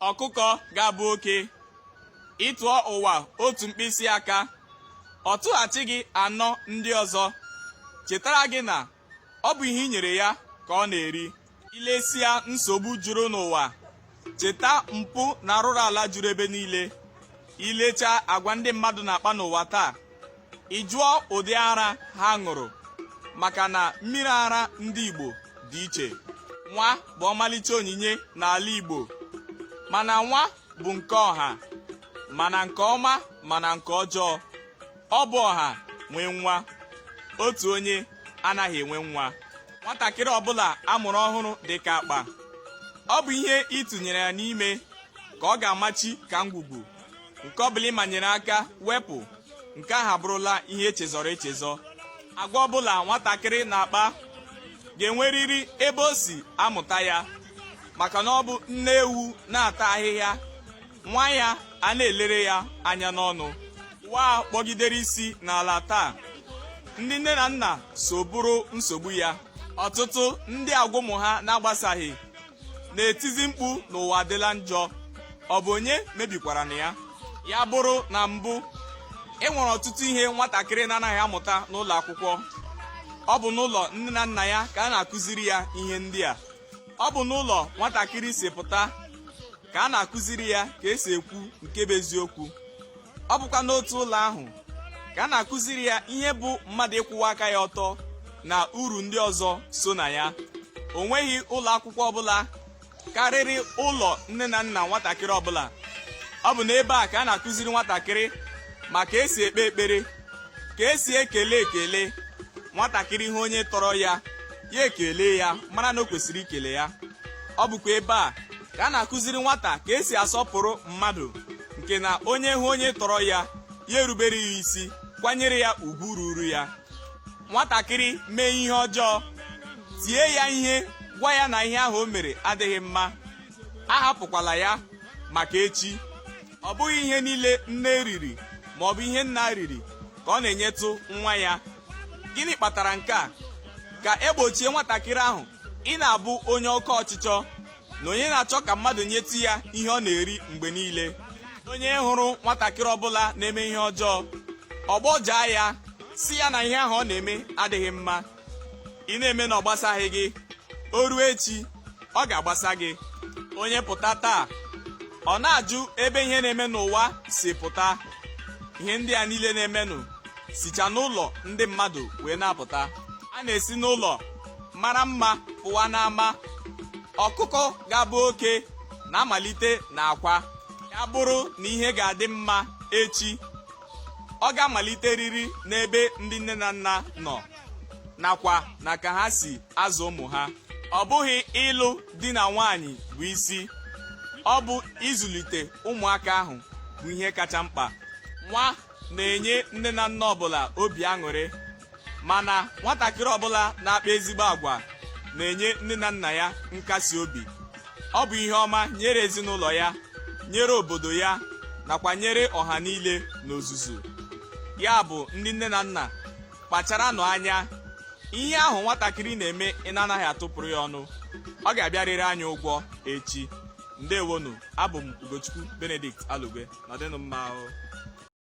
ọkụkọ ga-abụ oke ị tụọ ụwa otu mkpịsị aka ọ tụghachi gị anọ ndị ọzọ chetara gị na ọ bụ ihe i nyere ya ka ọ na-eri i lesịa nsogbu juru n'ụwa cheta mpụ na arụrụ ala juru ebe niile i lechaa agwa ndị mmadụ na-akpa n'ụwa taa ị jụọ ụdị ara ha ṅụrụ maka na mmiri ara ndị Igbo dị iche nwa bụ ọmalịcha onyinye n'ala Igbo mana nwa bụ nke ọha ma na nke ọma ma na nke ọjọọ ọ bụ ọha nwee nwa otu onye anaghị enwe nwa nwatakịrị ọbụla a mụrụ ọhụrụ dị ka akpa ọ bụ ihe ị tụnyere ya n'ime ka ọ ga-amachi ka ngwugwu nke ọ bụla ị manyere aka wepụ nke ahụ abụrụla ihe e chezọrọ echezọ agwa ọbụla nwatakịrị na-akpa ga-enwerịrị ebe o si amụta ya maka na ọ bụ nne ewu na-ata ahịhịa nwa ya a na-elere ya anya n'ọnụ ụwa kpọgidere isi n'ala taa ndị nne na nna so bụrụ nsogbu ya ọtụtụ ndị agwa ụmụ ha na-agbasaghị na-etizi mkpu na ụwa adịla njọ ọ bụ onye mebikwaranụ ya ya bụrụ na mbụ e nwere ọtụtụ ihe nwatakịrị na-anaghị amụta n'ụlọ akwụkwọ ọ bụ n'ụlọ nne na nna ya ka a na-akụziri ya ihe ndị a ọ bụ n'ụlọ nwatakịrị si pụta ka a na-akụziri ya ka e si ekwu nke bụ eziokwu ọ bụkwa n'otu ụlọ ahụ ka a na-akụziri ya ihe bụ mmadụ ịkwụwa aka ya ọtọ na uru ndị ọzọ so na ya o nweghị ụlọ akwụkwọ ọbụla karịrị ụlọ nne na nna nwatakịrị ọbụla ọ bụ n'ebe a ka a na-akụziri nwatakịrị ma ka e si ekpe ekpere ka e si ekele ekele nwatakịrị ịhụ onye tọrọ ya ya ekele ya mara na o kwesịrị ikele ya ọ bụkwa ebe a ka a na-akụziri nwata ka e si asọpụrụ mmadụ nke na onye hụ onye tọrọ ya ya erubere ya isi kwanyere ya ugwu ruru ya nwatakịrị mee ihe ọjọọ tie ya ihe gwa ya na ihe ahụ o mere adịghị mma ahapụkwala ya maka echi ọ bụghị ihe niile nne riri ma ọ bụ ihe nna riri ka ọ na-enyetụ nwa ya gịnị kpatara nke a ka e gbochie nwatakịrị ahụ ịna-abụ onye oke ọchịchọ na onye na-achọ ka mmadụ nyetụ ya ihe ọ na-eri mgbe niile onye hụrụ nwatakịrị ọbụla na-eme ihe ọjọọ ọ gbọjaa ya sị ya na ihe ahụ ọ na-eme adịghị mma ị na-eme na ọ gbasaghị gị o ruo echi ọ ga-agbasa gị onye pụta taa ọ na-ajụ ebe ihe na-eme n'ụwa si pụta ihe ndị a niile na-emenụ sicha n'ụlọ ndị mmadụ wee na-apụta a na-esi n'ụlọ mara mma pụwa n'ama ọkụkọ ga-abụ oke na-amalite na akwa ya bụrụ na ihe ga-adị mma echi ọ ga-amaliteriri n'ebe ndị nne na nna nọ nakwa na ka ha si azụ ụmụ ha ọ bụghị ịlụ di na nwaanyị bụ isi ọ bụ ịzụlite ụmụaka ahụ bụ ihe kacha mkpa nwa na-enye nne na nna ọbụla obi aṅụrị mana nwatakịrị ọbụla na-akpa ezigbo agwa na-enye nne na nna ya nkasi obi ọ bụ ihe ọma nyere ezinụlọ ya nyere obodo ya nakwa nyere ọha niile n'ozuzu ya bụ ndị nne na nna kpacharanụ anya ihe ahụ nwatakịrị na-eme ị na-anaghị atụpụrụ ya ọnụ ọ ga-abịarịrị anyị ụgwọ echi ndewonu abụ m ugochukwu benedict alugwe nọdịnụ mma ahụ